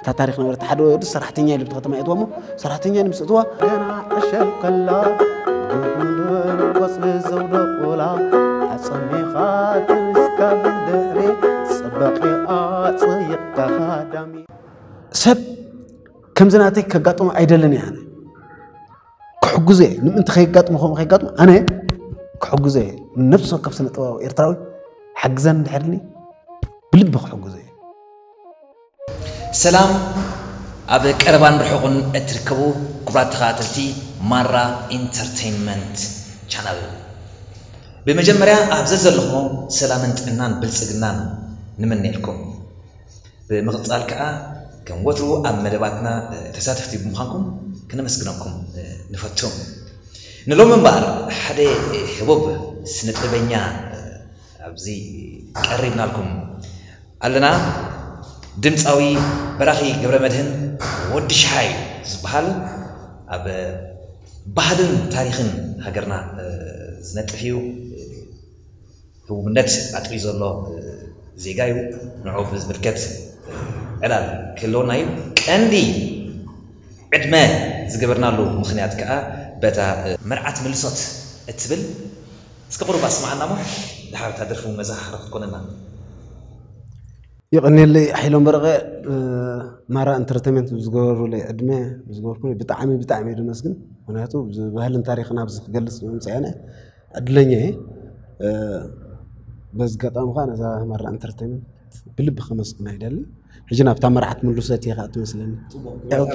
እታ ታሪክ ነበረት ሓደ ወዲ ሰራሕተኛ ኢሉ ብቲ ከተማ የእትዋሞ ሰራሕተኛ ኢሉ ምስ እትዋ ገና ዕሸል ከላ ጉንድን ቆፅሊ ዘውደቑላ ኣፀሚኻ ትንስካ ብድሕሪ ፅበቂ ኣፅይቕካ ካዳሚ ሰብ ከምዚ ናተይ ከጋጥሞ ኣይደልን እየ ኣነ ክሕግዞ እየ ንምእንቲ ከይጋጥሞ ከምኡ ከይጋጥሞ ኣነ ክሕግዞ እየ ነብሲ ወከፍ ስነ ጥበባዊ ኤርትራዊ ሓግዘን ድሕርኒ ብልቢ ክሕግዞ እየ ሰላም ኣብ ቀረባን ርሑቕን እትርከቡ ክቡራት ተኸታተልቲ ማራ ኢንተርተይንመንት ቻነል ብመጀመርያ ኣብ ዘዘለኹሞ ሰላምን ጥዕናን ብልጽግናን ንምነየልኩም ብምቕጻል ከኣ ከም ወትሩ ኣብ መደባትና ተሳተፍቲ ብምዃንኩም ክነመስግነኩም ንፈቱ ንሎሚ እምበኣር ሓደ ህቡብ ስነጥበበኛ ኣብዚ ቀሪብናልኩም ኣለና ድምጻዊ በራኺ ገብረመድህን ወዲ ሽሓይ ዝብሃል ኣብ ባህልን ታሪኽን ሃገርና ዝነጥፍ እዩ ህቡብነት ኣጥርዩ ዘሎ ዜጋ እዩ ንዑኡ ብዝምልከት ዕላል ክህልወና እዩ ቀንዲ ዕድመ ዝገበርናሉ ምኽንያት ከኣ በታ መርዓት ምልሶት እትብል እስከ ቁሩብ ኣስምዓና እሞ ድሓር እታ ደርፊ ውን መዘኻኸሪ ክትኮነና። የቐንየለይ ሓይሎም በረቐ ማራ እንተርተመንት ብዝገበሩለይ ዕድመ ብዝገበርኩምለይ ብጣዕሚ ብጣዕሚ እየ ድመስግን ምክንያቱ ባህልን ታሪክን ኣብዚ ክገልፅ ብምምፀኤነ ዕድለኛ እየ በዚ ኣጋጣሚ ከዓ ነዛ ማራ እንተርተመንት ብልቢ ከመስግና ይደሊ ሕጂ ናብታ መራሕት ምሉሰት እየ ከዓ ትመስለኒ ኦኬ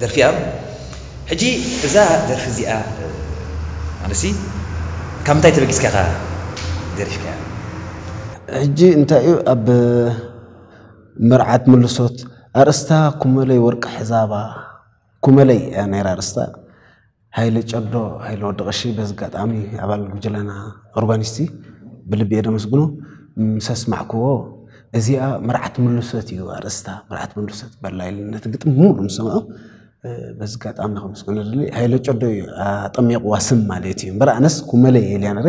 ደርፊ'ያ ሕጂ እዛ ደርፊ እዚኣ ማለትሲ ካብ ምንታይ ተበጊስካ ኢኻ ደሪፍካያ? ሕጂ እንታይ እዩ ኣብ መርዓት ምልሶት ኣርእስታ ኩመለይ ወርቂ ሕዛባ ኩመለይ እያ ነይራ ኣርእስታ። ሃይለ ጨዶ፣ ሃይለ ወዲ ቀሺ፣ በዚ ኣጋጣሚ ኣባል ጉጅለና ኡርባኒስቲ ብልቢ እየ ደመስግኖ። ምስ ኣስማዕክዎ እዚኣ መርዓት ምሉሰት እዩ ኣርእስታ፣ መርዓት ምሉሰት በላ ኢሉ ነቲ ግጥሚ ሙሉ ምስ ሰምዖ በዚ ኣጋጣሚ ከመስግኖ ደሊ ሃይለ ጨዶ እዩ ኣጠሚቕዋ ስም ማለት እዩ እምበር ኣነስ ኩመለይ እየ ኢልያ ነይረ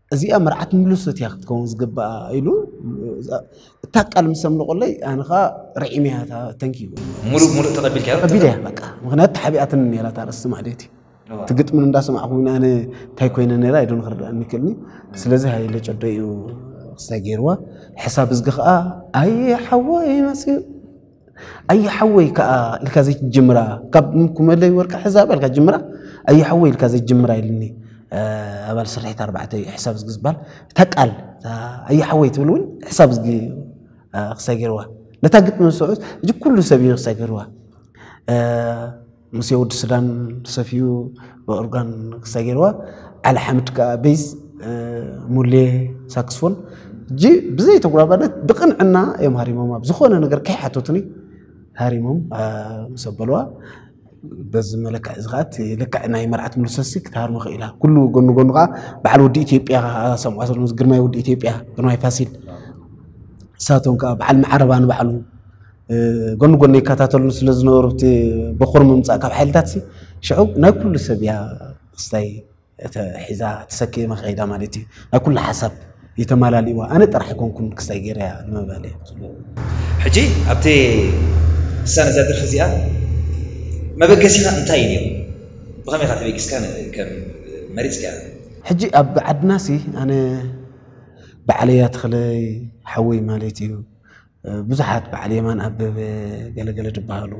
እዚኣ መርዓት ምሉሰት እያ ክትከውን ዝግባኣ ኢሉ እታ ቃል ምስ ኣምልቆለይ ኣነ ከዓ ርዒመ እያ እታ ተንኪ ሙሉእ ብሙሉእ ተቐቢልካዮ ቀቢለ እያ በቃ ምክንያቱ ተሓቢኣትኒ ነይራ እታ ርእሲ ማዕደቲ እቲ ግጥሚ እንዳሰማዕኩ ግን ኣነ እንታይ ኮይነ ነይራ ኢዶ ንክርዳእኒ ይክእልኒ ስለዚ ሃይለ ጨዶ እዩ ክስታይ ገይርዋ ሕሳብ እዝጊ ከዓ ኣየ ሓወይ መፅኡ ኣዩ ሓወይ ከዓ ኢልካ ዘይትጅምራ ካብ ኩመለይ ወርቂ ሕዛ በልካ ጅምራ ኣዩ ሓወይ ኢልካ ዘይትጅምራ ኢልኒ ኣባል ስርሒት ኣርባዕተ እዩ ሕሳብ ዝጊ ዝበሃል እታ ቃል ኣዩ ሓወይ ትብል እውን ሕሳብ ዝጊ ክሳይ ገይርዋ ነታ ግጥሚ ዝስዑት እዚ ኩሉ ሰብ እዩ ክሳይ ገይርዋ ምስ የውድ ሱዳን ሰፊዩ ብኦርጋን ክስታይ ገይርዋ ዓሊ ሓምድ ከዓ ቤዝ ሙሌ ሳክስፎን እጂ ብዘይ ተጉራባነት ብቅንዕና እዮም ሃሪሞም ኣብ ዝኾነ ነገር ከይሓተቱኒ ሃሪሞም ምስ ኣበልዋ በዚ መለክዕ እዚ ከዓ እቲ ልክዕ ናይ መርዓት ሙሉሰሲ ክትሃርሞ ክኢላ ኩሉ ጎኑ ጎኑ ከዓ በዓል ወዲ ኢትዮጵያ ሰምዖ ዘሎ ግርማይ ወዲ ኢትዮጵያ ግርማይ ፋሲል ንሳቶም ከዓ በዓል መዓረባ ንባዕሉ ጎኒ ጎኒ ይከታተሉን ስለ ዝነበሩ እቲ በኩር ምምፃእ ካብ ሓይልታት ሽዑ ናይ ኩሉ ሰብ እያ ክስታይ ሒዛ ተሰኪማ ከይዳ ማለት እዩ ናይ ኩሉ ሓሳብ ይተማላልእዋ ኣነ ጥራሕ ኣይኮንኩን ክስታይ ገይረያ ንምባል ሕጂ ኣብቲ እሳን እዛ ድርፊ እዚኣ መበገሲኻ እንታይ እዩ ነይሩ ብኸመይ ኢኻ ተበጊስካ ከም መሪፅካ ሕጂ ኣብ ዓድናሲ ኣነ በዓለያ ተኽለይ ሓወይ ማለት እዩ ብዙሓት በዓል የማን ኣበበ ገለገለ ድበሃሉ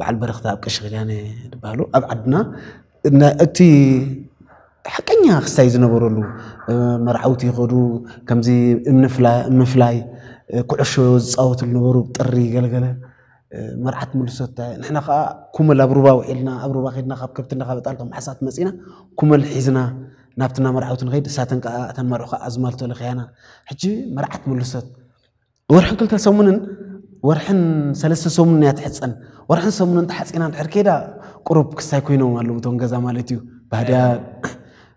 በዓል በረኽታ ኣብ ቀሺ ኪዳነ ድበሃሉ ኣብ ዓድና እቲ ሓቀኛ ክስታይ ዝነበረሉ መርዓውቲ ይኸዱ ከምዚ ምፍላይ ኩዕሾ ዝፃወቱ ዝነበሩ ጥሪ ገለገለ መርዓት ምልሶታ ንሕና ከዓ ኩመል ኣብ ሩባ ውዒልና ኣብ ሩባ ከድና ካብ ከብቲ እንዳካበጣል ከም ዓሳት መፂና ኩመል ሒዝና ናብቲ ናመርዓውቲ ንኸይድ እሳተን ከዓ እተን መርዑ ከዓ ኣዝማልቶ ለኽያና ሕጂ መርዓት ምልሶት ወርሕን ክልተ ሰሙንን ወርሕን ሰለስተ ሰሙንን እያ ትሕፀን ወርሕን ሰሙንን ተሓፂና እንድሕር ከይዳ ቁሩብ ክስታይ ኮይኖም ኣለዉ እቶም ገዛ ማለት እዩ ባህድያ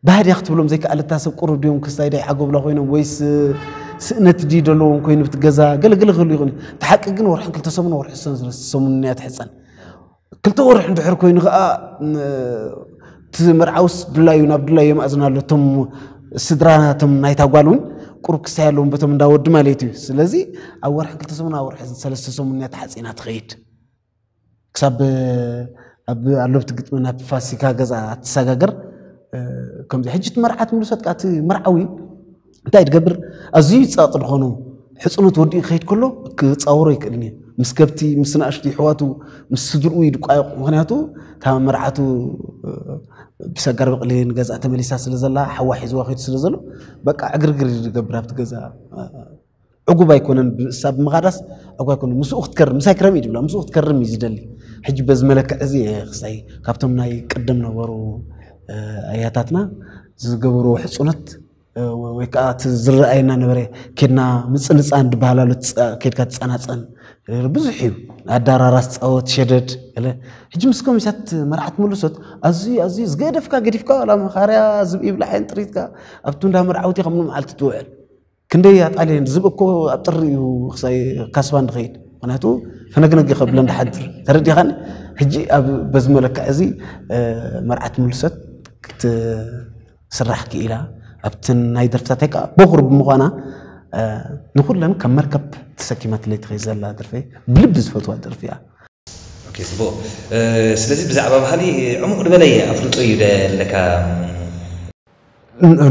ባህድያ ክትብሎም ዘይከኣል እታ ሰብ ቁሩብ ድዮም ክስታይ ዳይ ዓጎብላ ኮይኖም ወይስ ስእነት ድዩ ዘለዎም ኮይኑ ብቲ ገዛ ገለገለ ክህሉ ይኽእል እዩ እቲ ሓቂ ግን ወርሕን ክልተ ሰሙን ወርሒ ሰሙን እያ ትሕፀን ክልተ ወርሒ እንድሕር ኮይኑ ከዓ እቲ መርዓውስ ድላዩ ናብ ድላዩ የማእዝና ኣሎ እቶም ስድራናቶም ናይታ ጓል እውን ቁሩብ ክስታይ ኣለዎም በቶም እንዳወዲ ማለት እዩ ስለዚ ኣብ ወርሒ ክልተ ሰሙን ኣብ ወርሒ ሰለስተ ሰሙን እያ ተሓፂና ትኸይድ ክሳብ ኣብ ኣሎብቲ ግጥሚ ናብ ፋሲካ ገዛ ኣትሰጋገር ከምዚ ሕጂ እቲ መርዓት ምልሰት ከኣ እቲ መርዓዊ እንታይ ድገብር ኣዝዩ ይጻቕ ድኾኑ ሕጽኖት ወዲኡ ክኸይድ ከሎ ክጻወሮ ይክእልን እዩ ምስ ከብቲ ምስ ንኣሽቱ ይሕዋቱ ምስ ስድርኡ ይድቋየቑ ምክንያቱ እታ መርዓቱ ብሰጋር በቕሊ ንገዛ ተመሊሳ ስለ ዘላ ሓዋ ሒዝዋ ከይዱ ስለ ዘሎ በቃ ዕግርግር ይገብር ኣብቲ ገዛ ዕጉብ ኣይኮነን ብእሳ ብምኻዳስ ዕጉብ ኣይኮነን ምስኡ ክትከርም ምሳይ ክረም እዩ ዝብላ ምስኡ ክትከርም እዩ ዝደሊ ሕጂ በዚ መለክዕ እዚ ክሳይ ካብቶም ናይ ቅድም ነበሩ ኣያታትና ዝገብርዎ ሕፁነት ወይ ከዓ እቲ ዝረኣየና ነበረ ኬድና ምፅልፃን ዝበሃል ኣሎ ኬድካ ትፀናፀን ብዙሕ እዩ ኣዳራራስ ፃወት ሸደድ ለ ሕጂ ምስ ኮሚሳት መርዓት መለሶት ኣዝዩ ኣዝዩ ዝገደፍካ ገዲፍካ ዋላ መኻርያ ዝብኢ ብላዕን ጥሪትካ ኣብቲ እንዳ መርዓውቲ ከም መዓልቲ ትውዕል ክንደይ ኣጣልየን ዝብ እኮ ኣብ ጥሪ እዩ ክሳይ ካስባን ንኸይድ ምክንያቱ ፈነግነግ ከብለን ድሓድር ተረዲኻን ሕጂ ኣብ በዚ መለክዕ እዚ መርዓት ምልሰት ክትስራሕ ክኢላ ኣብቲ ናይ ደርፍታተይ ከዓ በኹር ብምዃና ንኩለን ከም መርከብ ተሰኪማትለይ ትኸይድ ዘላ ደርፊ ብልቢ ዝፈትዋ ደርፊ እያ ጽቡቅ ስለዚ ብዛዕባ ባህሊ ዕሙቅ ድበለየ ኣፍልጦ እዩ ደለካ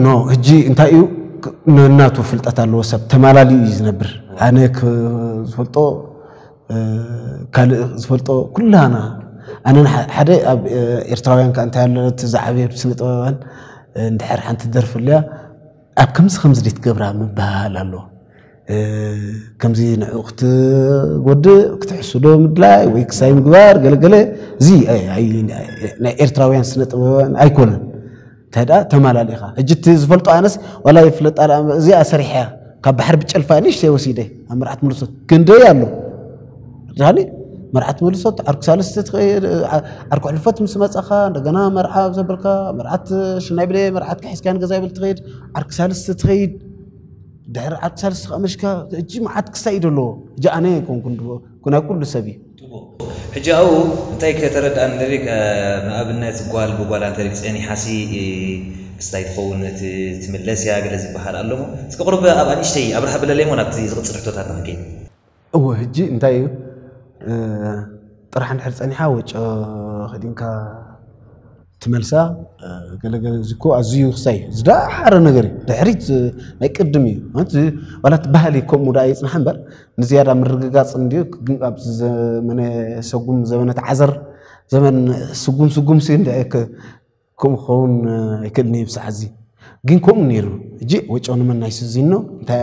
ኖ ሕጂ እንታይ እዩ ነናቱ ፍልጠት ኣለዎ ሰብ ተማላልዩ እዩ ዝነብር ኣነ ዝፈልጦ ካልእ ዝፈልጦ ኩላና ኣነ ሓደ ኣብ ኤርትራውያን ከ እንታይ ኣለነት ዝዓበየ ስነ ጥበባን እንድሕር ሓንቲ ደርፊ ኣለያ ኣብ ከምዚ ከምዚ ድትገብራ ምበሃሃል ኣሎ ከምዚ ንዑ ክትጎድእ ክትሕስዶ ምድላይ ወይ ክሳይ ምግባር ገለገለ እዚ ናይ ኤርትራውያን ስነ ጥበባውያን ኣይኮነን እንታይ ደኣ ተማላሊኻ ሕጂ እቲ ዝፈልጦ ኣነስ ዋላ ይፍለጣ እዚኣ ሰሪሐ ካብ ባሕሪ ብጨልፋ ንእሽተይ ወሲደ ኣብ መርዓት መልሶ ክንደይ ኣሎ ዳኒ መርዓት መልሶ ዓርኩ ሳልስቲ ትኸይድ ዓርኩ ሕልፈት ምስ መጻኻ እንደገና መርዓ ኣብ ዘበልካ መርዓት ሽናይ ብለ መርዓት ክሒዝካ ንገዛ ይብል ትኸይድ ዓርኩ ሳልስቲ ትኸይድ ድሕሪ ዓት ሳልስቲ ከመሽካ እጂ መዓት ክሳይ እዩ ደለዎ እጂ ኣነ ኣይኮንኩን ናይ ኩሉ ሰብ እዩ። ሕጂ ኣብኡ እንታይ ከተረድኣኒ ደሊ ንኣብነት ጓል ብጓል ኣንተ ጸኒሓሲ ክስታይ ትኸውን ትምለስ እያ ገለ ዝበሃል ኣሎሞ እስኪ ቁሩብ ኣብኣ ንእሽተይ ኣብርሃ በለለይሞ ናብቲ ዝቅጽል ሕቶታትና ክንከይድ። እወ ህጂ እንታይ እዩ ጥራሕ እንድሕር ጸኒሓ ወጮ ከዲንካ ትመልሳ ገለገለ እዚ እኮ ኣዝዩ ክሳይ ዝደሓረ ነገር እዩ ድሕሪት ናይ ቅድም እዩ ማለት ዋላ እቲ ባህሊ ከምኡ ደኣ ይፅናሕ እምበር ንዝያዳ ምርግጋፅ እንድዩ ኣብ ዘመነ ሰጉም ዘመነ ተዓዘር ዘመን ስጉም ስጉም ሲ እንድዐ ከምኡ ክኸውን ኣይክእልን እዩ ብሰዓዚ ግን ከምኡ ነይሩ እጂ ወጮ ንመን ናይ ስዚኖ እንታይ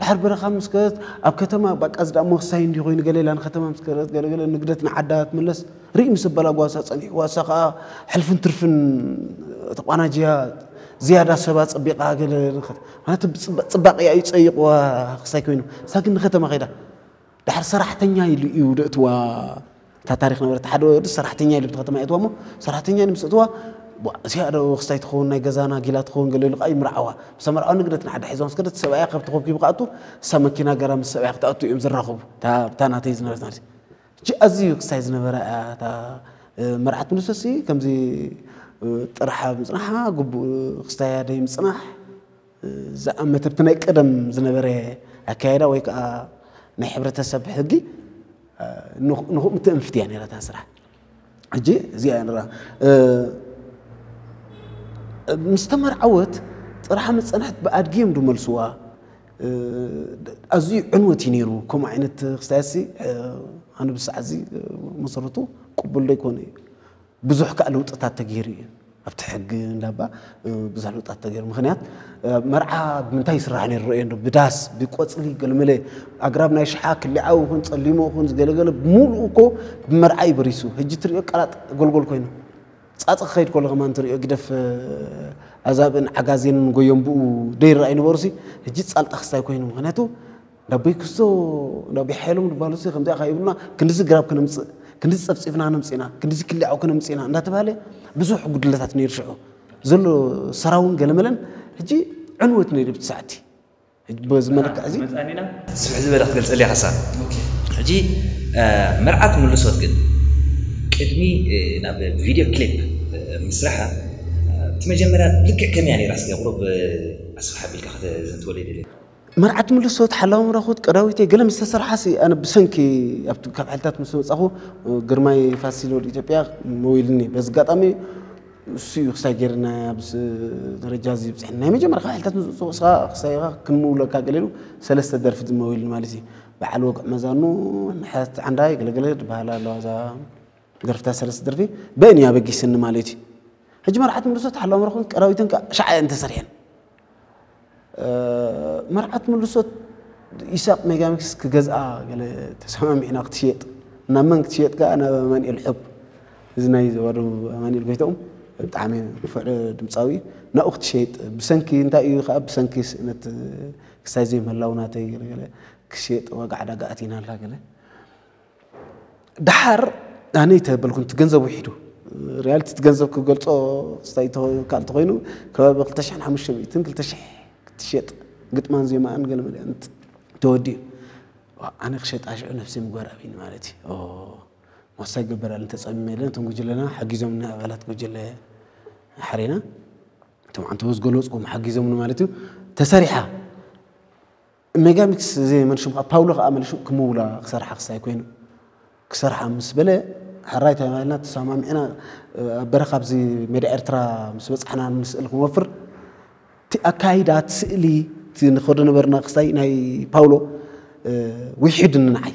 ድሓር በረኻ ምስ ከደት ኣብ ከተማ ባቃ ዝዳ ሞክሳይ እንዲ ኮይኑ ገለ ኢላ ንከተማ ምስ ከደት ገለ ገለ ንግደት ንዓዳ ትምለስ ርኢ ምስ በላ ጓሳ ጸኒሕዋ እሳ ከኣ ሕልፍን ትርፍን ተቋናጅያ ዝያዳ ሰባ ጸቢቃ ገለ ማለት ጽባቂያ እዩ ጸይቅዋ ክሳይ ኮይኑ እሳ ግን ንከተማ ከይዳ ድሓር ሰራሕተኛ ኢሉ እዩ ደእትዋ እታ ታሪክ ነበረት ሓደ ወዲ ሰራሕተኛ ኢሉ ብቲ ከተማ የእትዋ እሞ ሰራሕተኛ ኢሉ ምስ እትዋ እዚኣ ዶ ክስታይ ትኸውን ናይ ገዛና ጊላ ትኸውን ገለ ኢሉ ከዓ ይምርዓዋ ምሳ መርዓው ንግደት ንዓዳ ሒዛ ምስ ከደት ሰብኣያ ከብቲ ኮብኪቡ ክኣቱ እሳ መኪና ገራ ምስ ሰብኣያ ክትኣቱ እዮም ዝራኸቡ እታ ናተይ ዝነበረት ማለት እዩ ኣዝዩ ክስታይ ዝነበረ እያ እታ መርዓት ምንሰሲ ከምዚ ጥርሓ ምፅናሓ ግቡእ ክስታያ ደይ ምፅናሕ ዝኣመተ ብናይ ቀደም ዝነበረ ኣካያይዳ ወይ ከዓ ናይ ሕብረተሰብ ሕጊ ንኹ ምትእንፍት እያ ነይራ እታ ስራሕ ሕጂ እዚኣ እያ ንራ ምስ ተመርዓወት ጥራሕ ምፀንሐት ብኣድጊ እዮም ድመልስዋ ኣዝዩ ዕንወት እዩ ነይሩ ከምኡ ዓይነት ክስታያሲ ኣነ ብሰዓዚ መሰረቱ ቅቡል ዘይኮነ እዩ ብዙሕ ከኣ ለውጥታት ተገይሩ እዩ ኣብቲ ሕጊ እንዳባ ብዙሕ ለውጥታት ተገይሩ ምክንያት መርዓ ብምንታይ ይስራሕ ነይሩ ረእዮ እንዶ ብዳስ ብቆፅሊ ገለመለ ኣግራብ ናይ ሽሓ ክሊዓዊ ይኹን ፀሊሞ ይኹን ዝገለገለ ብምሉኡ እኮ ብመርዓ እዩ በሪሱ ሕጂ ትሪኦ ቀላጥ ጎልጎል ኮይኑ ጻጽ ክኸይድ ከሎ ከማን ትሪኦ ግደፍ ኣዛብእን ዓጋዜንን ጎዮም ብኡ ደይራ ኣይነበሩሲ ሕጂ ጻልጣ ክስታይ ኮይኑ ምክንያቱ ዳቦይ ክስቶ ዳቦይ ሓይሎም ድባሉሲ ከምዚኣ ካብ ይብሉና ክንዲዚ ግራብ ክነምፅእ ክንዲዚ ፀፍፂፍና ነምፅና ክንዲዚ ክሊዓው ክነምፅና እንዳተባሃለ ብዙሕ ጉድለታት ነይሩ ሽዑ ዘሎ ሰራውን ገለመለን ሕጂ ዕንወት ነይሩ ብቲ ሰዓቲ በዚ መለክዕ እዚ መፃኒና ስፍሕ ዝበለ ክገልፀልያ ሓሳብ ሕጂ መርዓ ትምልሶት ግን ቅድሚ ናብ ቪድዮ ክሊፕ ምስራሓ እቲ መጀመርያ ልክዕ ከመይ እያ ነይራ እስከ ቁሩብ ኣስፍሕ ኣቢልካ ከተዘንትወለይ ደልየ መርዓት ምልሶት ሓላዊ ረኹት ቀዳዊተይ ገለ ምስ ተሰርሓሲ ኣነ ብሰንኪ ኣብቲ ካብ ሓልታት ምስ መጻኹ ግርማይ ፋሲል ወዲ ኢትዮጵያ መዊልኒ በዚ ኣጋጣሚ እሱ እዩ ክሳይ ጌርና ኣብዚ ደረጃ እዚ ብፅሕ ናይ መጀመርያ ካብ ሕልታት ምዝፅኡ እስኻ ክሳይኻ ክንምውለካ ገሌሉ ሰለስተ ደርፊ ዝመውል ማለት እዩ በዓል ወግዕ መዛኑ ንሕት ዓንዳ ገለገለ ዝበሃላ ኣለዋ እዛ ደርፍታ ሰለስተ ደርፊ በእን እዩ ኣበጊስኒ ማለት እዩ ሕጂ መርዓት ምርሶት ሓላው መረኹን ቀዳዊተን ከዓ ሻዓ እየን ተሰሪሐን መርዓት ምልሶት ኢሳቕ ሜጋሚክስ ክገዝኣ ገለ ተሰማሚዕና ክትሽየጥ ናብ መን ክትሽየጥ ከኣ ናብ ኣማንኤል ሑብ እዚ ናይ ዘዋዶ ኣማንኤል ጎይትኦም ብጣዕሚ ንፉዕ ድምፃዊ ናብኡ ክትሸየጥ ብሰንኪ እንታይ እዩ ከዓ ብሰንኪ ስእነት ክሳይ ዘይምህላው ናተይ ገለ ገለ ክሸየጥ ዋጋ ዕዳጋ ኣቲና ኣላ ገለ ደሓር ኣነ ይተበልኩ እቲ ገንዘብ ውሒዱ ሪያሊቲ እቲ ገንዘብ ክገልጾ ስታይ ካል ተኮይኑ ከባቢ 2500 2000 ክትሸጥ ግጥማን ዜማኣን ገለመለ ተወዲኡ ኣነ ክሸጣ ሽዑ ነብሲ ምግባር ኣብኒ ማለት እዩ ሞሳ ይገበራል እንተፀሚመ ኢለ ነቶም ጉጅለና ሓጊዞምና ኣባላት ጉጅለ ሓሬና እቶም ዓንተቦ ዝገለፅዎም ሓጊዞምኒ ማለት እዩ ተሰሪሓ ሜጋሚክስ ዘይ መልሹ ከኣ ፓውሎ ከኣ መልሹ ክምውላ ክሰርሓ ክሳይ ኮይኑ ክሰርሓ ምስ በለ ሕራይ ተባሂልና ተሰማሚዕና ኣብ በረኻ ኣብዚ ሜዳ ኤርትራ ምስ በጻሕና ንስእል ክንወፍር እቲ ኣካይዳ እቲ ስእሊ እቲ ንኸዶ ነበርና ክሳይ ናይ ፓውሎ ውሒድኒ ንዓይ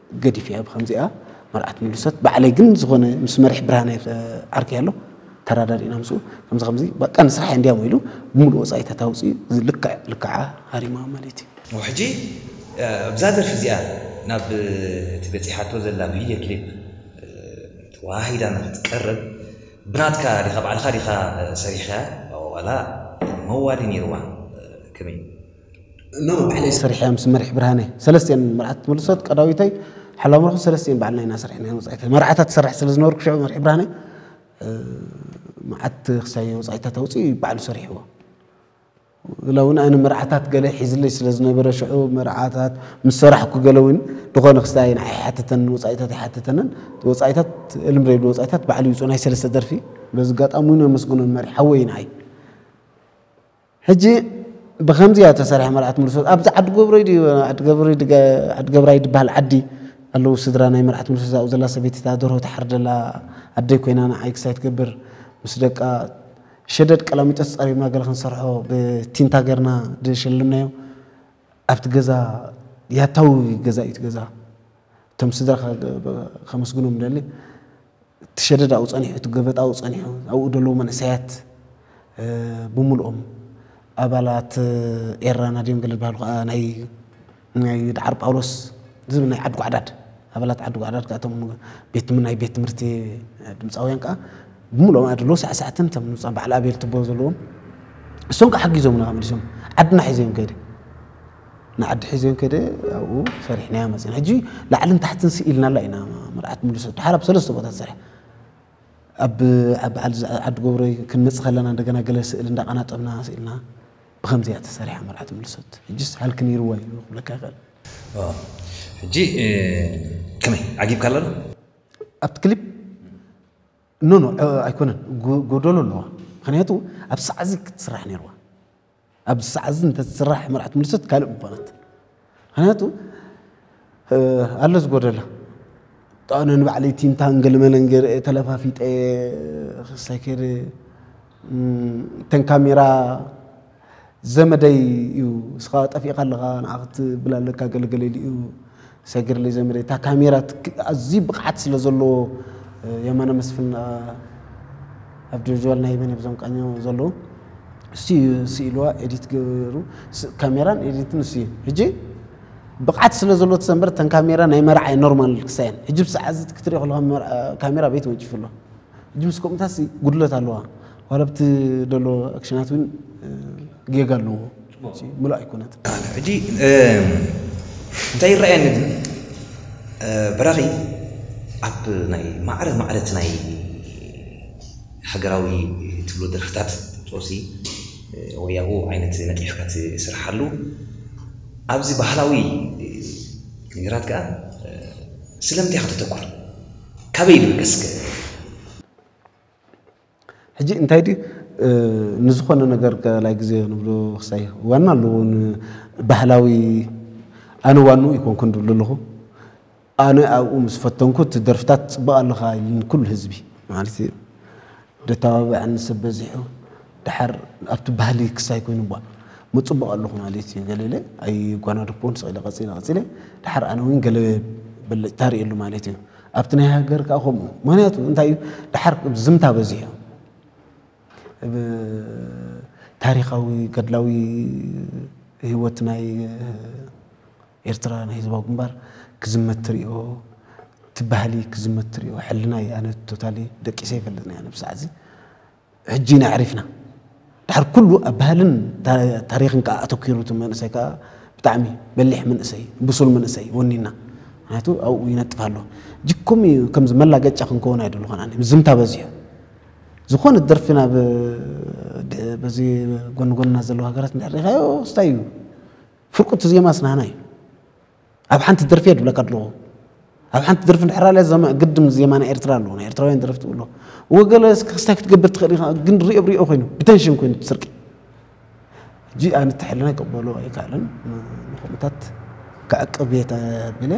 ገዲፍ እያ ብከምዚኣ መርዓት ምልሶት ባዕለይ ግን ዝኾነ ምስ መሪሕ ብርሃነ ዓርከይ ኣሎ ተራዳዲእና ምስኡ ከምዚ ከምዚ በቃ ንስራሕ እንዲያ ኢሉ ብምሉእ ወፃኢ ተታውፂኡ እዚ ልክዕ ልክዓ ሃሪማ ማለት እዩ። እሞ ሕጂ ኣብዛ ደርፊ እዚኣ ናብ እቲ በጺሓቶ ዘላ ቪድዮ ክሊፕ ተወሃሂዳ ንኽትቀርብ ብናትካ ዲኻ ባዕልኻ ዲኻ ሰሪሕካያ ዋላ መዋሊ ኔርዋ ከመይ? እኖ ባዕለይ ሰሪሐያ ምስ መሪሕ ብርሃነ ሰለስቲኤን መርዓት ትምልሶት ቀዳዊተይ ሓላዊ ምርኹ ሰለስቲኤን ባዕልና ኢና ሰሪሕና ወጻኢታ መርዓታት ትሰርሕ ስለ ዝነበርኩ ሽዑ መሪሕ ብርሃነ መዓት ክሳይ ወጻኢታት ኣውጽኡ ባዕሉ ሰሪሕዎ ኢላ እውን ኣነ መርዓታት ገለ ሒዝለይ ስለ ዝነበረ ሽዑ መርዓታት ምስ ሰራሕኩ ገለ እውን ዝኾነ ክስታይ ንዓይ ኣይሓትተንን ወጻኢታት ኣይሓትተንን ወጻኢታት እልም ዘይብሉ ወጻኢታት ባዕሉ ይውጽኡ ናይ ሰለስተ ደርፊ በዚ ኣጋጣሚ እውን ኣመስግኖ መሪሕ ሓወይ ንዓይ ሕጂ ብከምዚ እያ ተሰሪሓ መርዓት ምልሶት ኣብዚ ዓዲ ጎብረይ ድዩ ዓዲ ገብረይ ድጋ ዓዲ ገብራይ ድበሃል ዓዲ ኣለዉ ስድራ ናይ መርዓት ምልሶት ኣብኡ ዘላ ሰበይቲ እታ ደርሆ ትሓርድ ዘላ ኣደይ ኮይና ንዓይ ክሳይ ትገብር ምስ ደቃ ሸደድ ቀላሚጦስ ጸሪብና ገለ ክንሰርሖ ብቲንታ ገርና ድሸለምናዮ ኣብቲ ገዛ ያታዊ ገዛ እዩ እቲ ገዛ እቶም ስድራ ከመስግኖም ደሊ እቲ ሸደድ ኣብኡ ጸኒሑ፣ እቲ ገበጥ ኣብኡ ጸኒሑ፣ ኣብኡ ዘለዉ መንእሰያት ብምሉኦም ኣባላት ኤረና ድዮም ገለ ዝበሃሉ ከኣ ናይ ናይ ደዓር ጳውሎስ ዝብል ናይ ዓዲ ጓዕዳድ ኣባላት ዓዲ ጓዕዳድ ከኣ እቶም ቤት ናይ ቤት ትምህርቲ ድምጻውያን ከኣ ብምሉኦም ኣድሎ ሳዕሳዕትን እቶም ንብጻ በዓል ኣቤል ትቦ ዘለዎም እሶም ከኣ ሓጊዞምና መሊሶም ዓድና ሒዘዮም ከይደ ንዓዲ ሒዘን ከደ ኣብኡ ሰሪሕናያ መፅን ሕጂ ላዕልን ታሕትን ስኢልናላ ኢና መርዓት ሙሉ ሰብ ድሓር ኣብ ሰለስተ ቦታ ሰሪሕ ኣብ በዓል ዓዲ ጎብረይ ክንመፅ ከለና እንደገና ገለ ስእሊ እንዳቀናጠብና ስኢልና ብከምዚ እያ ተሰሪሓ መርዓት ሙሉ ሰብ ሕጂስ ሃልኪ ነይርዋ እዩ ክብለካ ይኽእል ሕጂ ከመይ ዓጊብካ ኣሎ ዶ ኣብቲ ክሊፕ ኖኖ ኣይኮነን ጎደሎ ኣለዋ ምክንያቱ ኣብ ሳዕዚ ክትስራሕ ነይርዋ ኣብዚ ሰዓት እዚ እንተዝስራሕ መርዓት ምልሶት ካልእ ምኾነት ምክንያቱ ኣሎ ዝጎደላ ጣነ ንባዕለይ ቲንታን ገልመለን ገርአ ተለፋፊጠ ክሳይ ከይደ እተን ካሜራ ዘመደይ እዩ እስኻ ጠፊእካ ኣለኻ ንዓ ክትብል ኣለካ ገለገለ ኢሉ እዩ ሰግር ልጀምር እታ ካሜራ ኣዝዩ ብቕዓት ስለ ዘለዎ የማነ መስፍን ኣብ ጆርጅዋል ናይ መን ብዞም ቃኞ ዘለዉ እሱ እዩ ስኢልዋ ኤዲት ገሩ ካሜራን ኤዲትን እሱ እዩ ሕጂ ብቕዓት ስለ ዘሎ ተሰንበር ተን ካሜራ ናይ መርዓይ ኖርማል ክሳየን ሕጂ ብሰዓ እዚ ክትሪኦ ከለካ ካሜራ ቤት ወንጭፍ ኣሎ ሕጂ ምስ ከምኡታሲ ጉድለት ኣለዋ ዋላ ብቲ ደሎ ኣክሽናት እውን ጌጋ ኣለዎ እዚ ምሉእ ኣይኮነን። ሕጂ እንታይ ይረኣየኒ ግን በራኺ ኣብ ናይ ማዕረ ማዕረ እቲ ናይ ሃገራዊ ትብሎ ደርፍታት ጦሲ ወይ ኣብኡ ዓይነት ነጢፍካ ትስርሓሉ ኣብዚ ባህላዊ ነገራት ከኣ ስለምንታይ ኢኻ ተተኩር ካበይ ይብገስ ከ? ሕጂ እንታይ ድዩ ንዝኾነ ነገር ካልኣይ ግዜ ንብሎ ክሳይ ዋና ኣለዎ ባህላዊ ኣነ ዋንኡ ኣይኮንኩን ድብሎ ኣለኹ ኣነ ኣብኡ ምስ ፈተንኩት ደርፍታት ጽቡቅ ኣለኻ ኢሉኒ ኩሉ ህዝቢ ማለት ደተባብዐኒ ሰብ በዚሑ ድሓር ኣብቲ ባህሊ ክሳይ ኮይኑ ቧ ምጽቡቅ ኣለኹ ማለት እዩ ገለ ኢለ ኣይጓናደፍኩዎን ስቅ ኢለ ቀጺለ ቀጺለ ድሓር ኣነ እውን ገለ ብልጭታ ርእየሉ ማለት እዩ ኣብቲ ናይ ሃገር ከኣ ከምኡ ምክንያቱ እንታይ እዩ ድሓር ዝምታ በዚሑ ታሪኻዊ ገድላዊ ህይወት ናይ ኤርትራ ናይ ህዝባዊ ግንባር ክዝመት ትሪኦ ትባህሊ ክዝመት ትሪኦ ሕልና ኣነ ቶታሊ ደቂሰ ይፈልጥ ናይ ኣነ ብሰዓዚ ሕጂ ኢና ኣዕሪፍና ድሓር ኩሉ ኣብ ባህልን ታሪኽን ከኣ ኣተኪሩ እቲ መንእሰይ ከኣ ብጣዕሚ በሊሕ መንእሰይ ብሱል መንእሰይ ወኒና ምክንያቱ ኣብኡ ይነጥፍ ኣሎ ጅኩም እዩ ከምዚ መላገጫ ክንከውን ኣይደለኹን ኣነ ምዝምታ በዚሑ ዝኾነት ደርፊ ናብ በዚ ጎኒ ጎንና ዘለዋ ሃገራት እንድሕር ሪኻዮ ስታይ እዩ ፍርቁቲ ዜማ ስናህና እዩ ኣብ ሓንቲ ደርፊ እየ ድብለካ ኣለኹ ኣብ ሓንቲ ደርፊ ድሕር ኣለ ዘማ ግድም ዜማ ናይ ኤርትራ ኣለዎ ናይ ኤርትራውያን ደረፍቲ ብሎ ወገለ ክስታይ ክትገብር ትኽእል ኢኻ ግን ሪኦ ብሪኦ ኮይኑ ብተንሽን ኮይኑ ትስርቂ ሕጂ ኣነ ተሕልና ይቀበሎ ኣይከኣልን ንኩምታት ክዕቅብ እየ ተብለ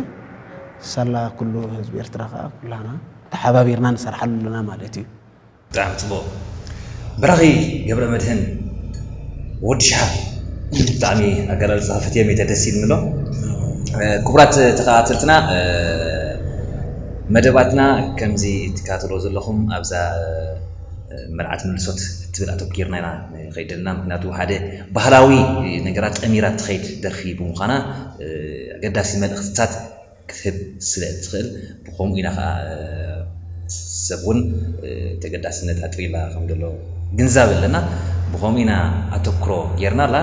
ሳላ ኩሉ ህዝቢ ኤርትራ ከዓ ኩላና ተሓባቢርና ንሰርሓሉ ኣለና ማለት እዩ ብጣዕሚ ጽቡቅ በራኺ ገብረመድህን ወዲ ሽሓብ ብጣዕሚ ኣገላልጻኻ ፈትየ ሚተ ደስ ኢልኒ ኣሎ ኩቡራት ተኻታተልትና መደባትና ከምዚ ትካታተልዎ ዘለኹም ኣብዛ መልዓት ምልሶት እትብል ኣተኪርና ኢና ንኸይድ ዘለና ምኽንያቱ ሓደ ባህላዊ ነገራት ጠሚራ እትኸይድ ደርፊ ብምዃና ኣገዳሲ መልእኽትታት ክትህብ ስለ እትኽእል ብኸምኡ ኢና ከኣ ሰብ እውን ተገዳስነት ኣጥሪላ ከም ዘሎ ግንዛብ ኣለና ብኸምኡ ኢና ኣተኩሮ ጌርናላ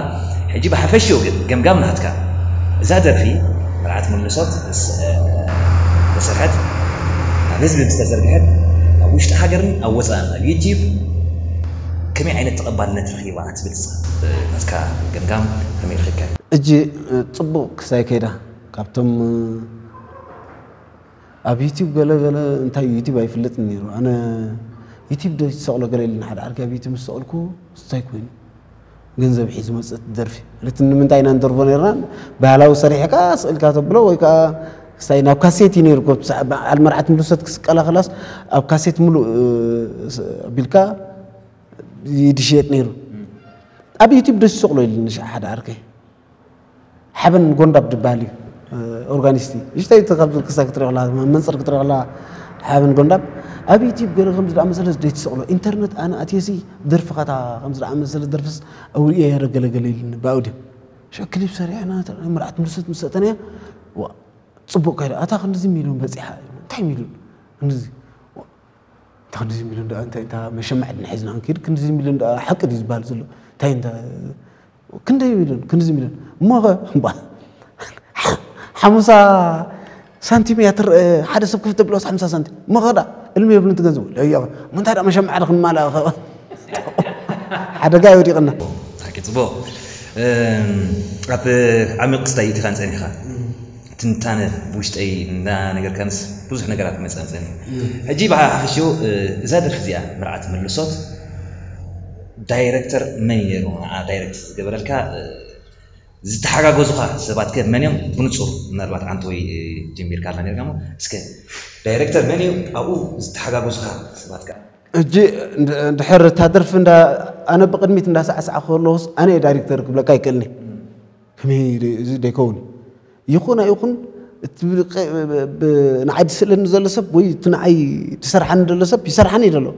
ሕጂ ብሓፈሽኡ ግን ገምጋም ናትካ እዛ ደርፊ መርዓት ምንሶት ምስ ተሰርሐት ናብ ህዝቢ ምስ ተዘርግሐት ኣብ ውሽጢ ሃገርን ኣብ ወጻእን ኣብ ዩቲብ ከመይ ዓይነት ተቐባልነት ረኺባ ትብል እስኻ ናትካ ገምጋም ከመይ ረኺብካዮ? እጂ ጽቡቅ ክሳይ ከይዳ። ካብቶም ኣብ ዩቲብ ገለ ገለ እንታይ እዩ ዩቲብ ኣይፍለጥን ነይሩ ኣነ ዩቲብ ዶ ትሰቕሎ ገለ ኢልና ሓደ ዓርኪ ኣብ ዩቲብ ምስ ሰቕልኩ እንታይ ኮይኑ ገንዘብ ሒዝ መፀት ደርፊ ማለት ንምንታይ ኢና ንደርፎ ነርና ባህላዊ ሰሪሕካ ስእልካ ተብሎ ወይ ከዓ ስታይ ናብ ካሴት እዩ ነይሩ በዓል መርዓት ምልሰት ክስቀላ ክላስ ኣብ ካሴት ሙሉእ ኣቢልካ ይድሽየጥ ነይሩ ኣብ ዩቲብ ደስ ዝሰቕሎ ኢልኒ ሓደ ዓርከይ ሓበን ጎንዳብ ድበሃል እዩ ኦርጋኒስት እዩ ንሽተይ ካብ ክሳ ክትሪኦ ከለካ መንፅር ክትሪኦ ከለካ ሓበን ጎንዳብ ኣብ ዩቲብ ገለ ከምዚ ደኣ መሰለስ ደይትሰቕሎ ኢንተርነት ኣነ ኣትየሲ ደርፍኻ እታ ከምዚ ደኣ መሰለ ደርፍስ ኣውሪኤ የረ ገለ ገለ ኢሉኒ ብኣውድዮ ሸ ክሊፕ ሰሪዕና መርዓት ምርሰት ምስ ሰእተናያ ፅቡቕ ከይዳ ኣታ ክንድዚ ሚሊዮን በፂሓ እንታይ ሚሊዮን ክንድዚ እንታ ክንድዚ ሚሊዮን ደኣ እንታይ እንታ መሸማዕ ድና ሒዝና ክንከይድ ክንድዚ ሚሊዮን ደኣ ሓቂ ድዩ ዝበሃል ዘሎ እንታይ እንታ ክንደይ ሚልዮን ክንዚ ሚልዮን እሞኸ ሓሙሳ ሳንቲም እያ ትርአ ሓደ ሰብ ክፍተ ብሎስ ሓምሳ ሳንቲም እሞኸ ዳ እልሚ የብልን ትገንዘቡ ለዮ ምንታይ ዳ መሸማዕ ዶ ክንማልኣ ኸ ሓደጋ እዩ ወዲቕና ብሓቂ ጽቡቕ ኣብ ዓሚቕ ክስታይ ኢትኻን ጸኒሕኻ ትንታነ ብውሽጠይ እንዳነገርካንስ ብዙሕ ነገራት ይመጻጸኒ ሕጂ ብሓፈሽኡ እዛ ደርፊ እዚኣ መርዓት መልሶት ዳይረክተር መን ኔሩ ንዓ ዳይረክት ዝገበረልካ ዝተሓጋገዙኻ ሰባት ከ መን እዮም ብንጹር ምናልባት ዓንተወይ ጀሚርካ ኣላ ኔርካ እሞ እስከ ዳይረክተር መን እዩ ኣብኡ ዝተሓጋገዙኻ ሰባት ከ ሕጂ ድሕር እታ ደርፊ እንዳ ኣነ ብቅድሚት እንዳሳዕሳዕኩ ከለኹስ ኣነ እየ ዳይረክተር ክብለካ ኣይክእልን'የ ከመይ ደ እዚ ደይከውን ይኹን ኣይኹን እቲ ንዓይ ዝስእለኒ ዘሎ ሰብ ወይ እቲ ንዓይ ዝሰርሓኒ ዘሎ ሰብ ይሰርሓኒ እዩ ዘሎ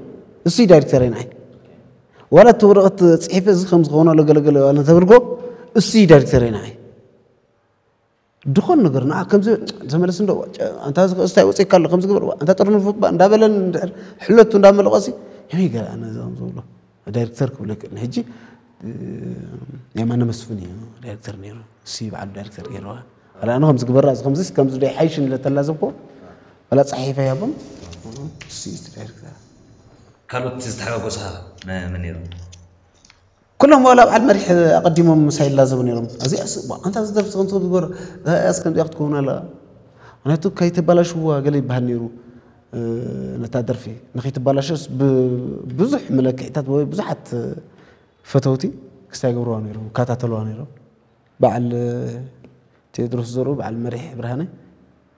እሱ እዩ ዳይሬክተር ንዓይ ዋላ እቲ ወረቐት ፅሒፈ እዚ ከም ዝኸውን ኣሎ ገለገለ ዋላ ተብልጎ እሱ እዩ ዳይሬክተር ንዓይ ድኾን ነገር ንዓ ከምዚ ተመለስ እንዶ ኣንታ ዝክእስታይ ወፂእካ ኣሎ ከምዚ ግበር ኣንታ ጥርንፉ እባ እንዳበለን እንድሕር ሕለቱ እንዳመለቐሲ ከመይ ገለ ኣነ ዝብሎ ዳይረክተር ክብሎ ይክእል ንሕጂ የማነ መስፍን እዩ ዳይረክተር ነይሩ እሲ በዓሉ ዳይረክተር ገይርዋ ዋላ ኣነ ከምዚ ግበራ እዚ ከምዚ ከምዚ ዶ ይሓይሽ ንለተላዘብኮ ዋላ ፀሒፈ ያቦም እሲ እዩ እቲ ዳይረክተር ካልኦት ዝተሓጋጎሳ መ- መን ነይሮም ኩሎም ዋላ በዓል መሪሕ ኣቐዲሞም ምሳይ ይላዘቡ ነይሮም እዚኣስ እሞ ኣንታ እዚ ደርፊ ከምዚ ከምዚ ግበር እዚኣስ ከምዚኣ ክትከውን ኣለዋ ምክንያቱ ከይተባላሽዋ ገለ ይበሃል ነይሩ ነታ ደርፊ ንኺትባላሸስ ብብዙሕ መለክዒታት ወይ ብዙሓት ፈተውቲ ክስታ ይገብርዋ ነይሮም ይከታተልዋ ነይሮም በዓል ቴድሮስ ዘርኡ በዓል መሪሕ ብርሃነ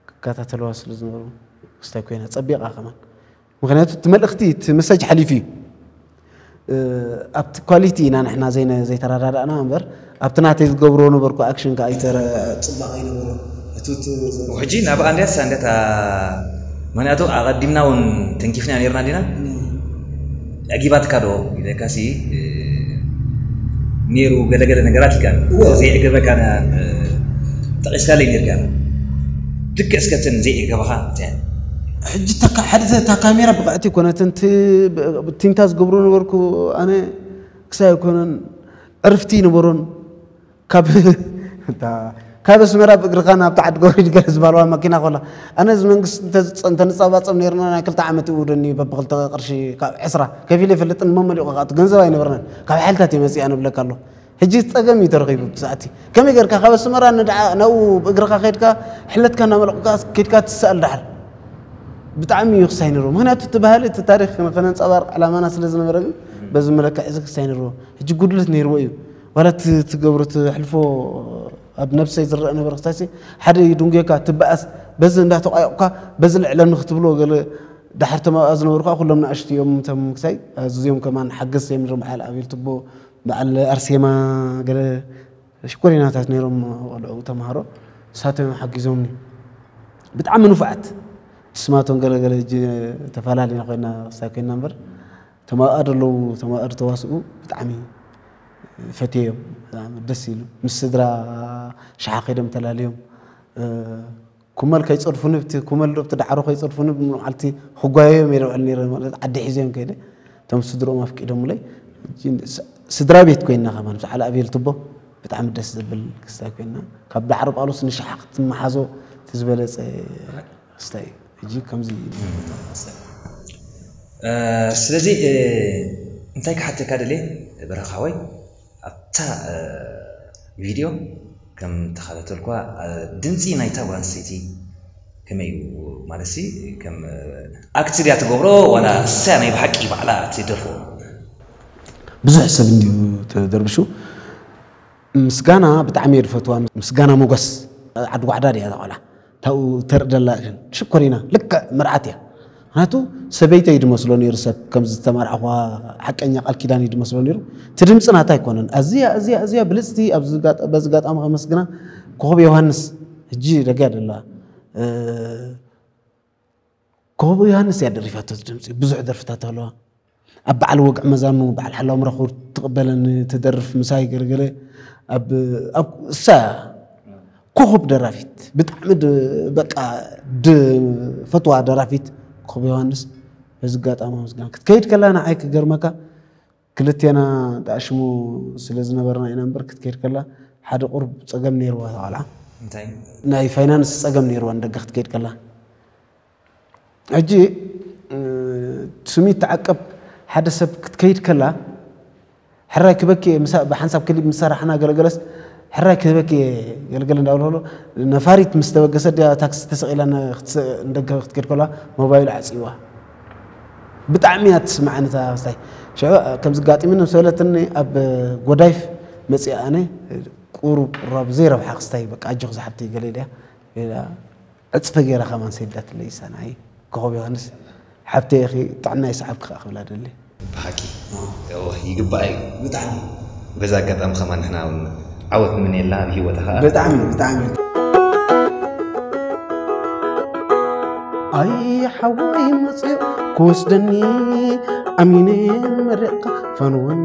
ክከታተልዋ ስለ ዝነበሩ ክስታይ ኮይና ፀቢቓ ከማን ምክንያቱ እቲ መልእኽቲ እቲ መሳጅ ሓሊፉ እዩ ኣብቲ ኳሊቲ ኢና ንሕና ዘይተረዳዳእና እምበር ኣብቲ ናተይ ዝገብሮ ነበርኩ ኣክሽን ከኣ ጽባቀ ኣይነበሮን ህቱት ዝበለ ውሕጂ ናብኣ እንድያስ ሳንገታ ምክንያቱ ኣቀዲምና ውን ተንኪፍናያ ኔርና እንዲና ኣዕጊባትካ ዶ ኢለካሲ ኔሩ ገለ ገለ ነገራት ኢልካ ዘይዕገበካ ጠቂስካለይ ኔርካ ልክዕ እስከ እተን ዘይዕገባካ እንታይ ሕጂ እታ ካ ሓደ እታ ካሜራ ብቕዕቲ ኣይኮነትን እቲ ቲንታ ዝገብሮ ነበርኩ ኣነ ክሳብ ኣይኮነን ዕርፍቲ ይነበሮን ካብ እታ ካብ ኣስመራ ብእግርኻ ናብቲ ዓዲ ገውሪድ ገለ ዝበሃልዋ መኪና ኮላ ኣነ እዚ መንግስቲ እንተንጻባጸብ ነርና ናይ ክልተ ዓመት ይውደኒ በብክልተ ቅርሺ ካብ ዕስራ ከፊለ ይፈልጥን መመሊቑ ከኣ እቲ ገንዘብ ኣይነበረናን ካብ ሓይልታት እየ መጺኣ ንብለካ ኣለኹ ሕጂ ጸገም እዩ ተረኺቡ ብሰዓቲ ከመይ ጌርካ ካብ ኣስመራ ንድዓ ናብኡ ብእግርኻ ከድካ ሕለትካ እናመለቑካ ከድካ ትስኣል ድሓር ብጣዕሚ እዩ ክሳይ ነርዎ ምክንያቱ እቲ ባህሊ እቲ ታሪክ ከነንፀባርቅ ዕላማና ስለ ዝነበረ ግን በዚ መለክዕ እዚ ክሳይ ነርዎ ሕጂ ጉድለት ነይርዎ እዩ ዋላ እቲ ትገብሮ ትሕልፎ ኣብ ነብሰይ ዝረአ ነበር ክሳይሲ ሓደ ይድንጎካ ትበኣስ በዚ እንዳተቋየቑካ በዚ ልዕለኒ ክትብሎ ገለ ድሓር ተማብኣ ዝነበሩ ከዓ ኩሎም ንኣሽቱ እዮም እቶም ክሳይ ኣዝዮም ከማን ሓገዝ እዮም ነሮም ሓል ኣቤል ትቦ በዓል ኣርሴማ ገለ ሽኮሪናታት ነይሮም ቆልዑ ተማሃሮ ንሳቶም እዮም ሓጊዞምኒ ብጣዕሚ ንፉዓት ንስማቶም ገለ ገለ እጂ ተፈላለና ኮይና ክስታይ ኮይና እምበር እቶም ኣብኣ ዘለዉ እቶም ኣብኣ ዝተዋስኡ ብጣዕሚ ፈትየዮም ብጣዕሚ ደስ ኢሉ ምስ ስድራ ሽሓ ከይዶም ተላልዮም ኩመል ከይጸድፉኒ ብቲ ኩመል ዶ ብቲ ዳዕሮ ከይጸድፉኒ ብመዓልቲ ክጓየዮም እየ ዝውዕል ነይረ ማለት ዓዲ ሒዘዮም ከይደ እቶም ስድርኦም ኣፍቂዶምለይ ስድራ ቤት ኮይና ከማን ምስ ዓል ኣብየል ትቦ ብጣዕሚ ደስ ዘብል ክስታይ ኮይና ካብ ዳዕሮ ጳውሎስ ንሽሓ ክትመሓዞ እቲ ዝበለጸ ክስታይ ሕጂ ከምዚ ስለዚ እንታይ ክሓተካ ደልየ በረኻወይ ኣብታ ቪድዮ ከም ተኻታተልኩዋ ድምጺ ናይታ ጓል ኣንስተይቲ ከመይ እዩ ማለትሲ ከም ኣክት ድያ ትገብሮ ዋላ ንሳ ናይ ብሓቂ ባዕላ ትደርፎ? ብዙሕ ሰብ እንድዩ ተደርብሹ ምስጋና ብጣዕሚ እየ ድፈትዋ ምስጋና ሞጎስ ዓዲ ጓዕዳ ድያ እዛ ቆልዓ ታብኡ ተርኢ ደላ ግን ሽኮሪና ልክዕ መርዓት እያ ምክንያቱ ሰበይተይ ድመስሎ ነይሩ ሰብ ከምዚ ዝተመርዓኹዋ ሓቀኛ ቃል ኪዳን እዩ ድመስሎ ነይሩ እቲ ድምፂ ናታ ኣይኮነን ኣዝያ ኣዝያ ኣዝያ ብልፅቲ በዚ ጋጣሚ ከመስግና ኮኸብ ዮሃንስ ሕጂ ደጊያ ደላ ኮቦ ዮሃንስ እያ ደሪፋቶ ድምፂ ብዙሕ ደርፍታት ኣለዋ ኣብ በዓል ወግዕ መዛኑ በዓል ሓላው ምረኹር ትቕበለን ትደርፍ ምሳይ ገለገለ እሳ ኮኸብ ደራፊት ብጣዕሚ በቃ ፈትዋ ደራፊት ኮኸብ ዮሃንስ በዚ ኣጋጣሚ ምስጋና ክትከይድ ከላ ንዓይ ክገርመካ ክልቴና ደኣ ሽሙ ስለ ዝነበርና ኢና እምበር ክትከይድ ከላ ሓደ ቁሩብ ጸገም ነይርዋ እታ ቆልዓ። እንታይ? ናይ ፋይናንስ ጸገም ነይርዋ ንደገ ክትከይድ ከላ። ሕጂ ስሚት ተዓቀብ ሓደ ሰብ ክትከይድ ከላ ሕራይ ክበኪ እየ ምሳእ ብሓንሳብ ክሊብ ምስ ሰራሕና ገለገለስ ሕራይ ክበኪ እየ ገለገለ እንዳበልኩ ነፋሪት ምስ ተበገሰት ድያ ታክሲ ተሰቒላ ንደገ ክትከይድ ከላ ሞባይሉ ዓጽይዋ። ብጣዕሚ እያ ትስምዓኒ እዛ ኣስታይ ሽዑ ከምዚ ጋጢምኒ ምስ በለትኒ ኣብ ጎዳይፍ መፅኣ ኣነ ቁሩብ ቁራብ ዘይረብሓ ክስታይ በቃ ኣጆኺ ዝሓብቲ ገለ ኢለያ ሌላ ዕፅፈ ገይራ ከማን ሰዲዳትለይ ሳናይ ኮኸብ ዮሃንስ ሓብተይ ኢኺ ጥዕና ይስዓብኪ ከዓ ክብላ ደሊ ብሓቂ እወ ይግባኣ እዩ ብጣዕሚ በዚ ኣጋጣሚ ከማን ንሕና ውን ዓወት ንምነየላ ኣብ ሂወታ ከኣ ብጣዕሚ ብጣዕሚ። ኣይ ሓወይ መጽዩ ክወስደኒ ኣሚነ መሪቕካ ፈንወኒ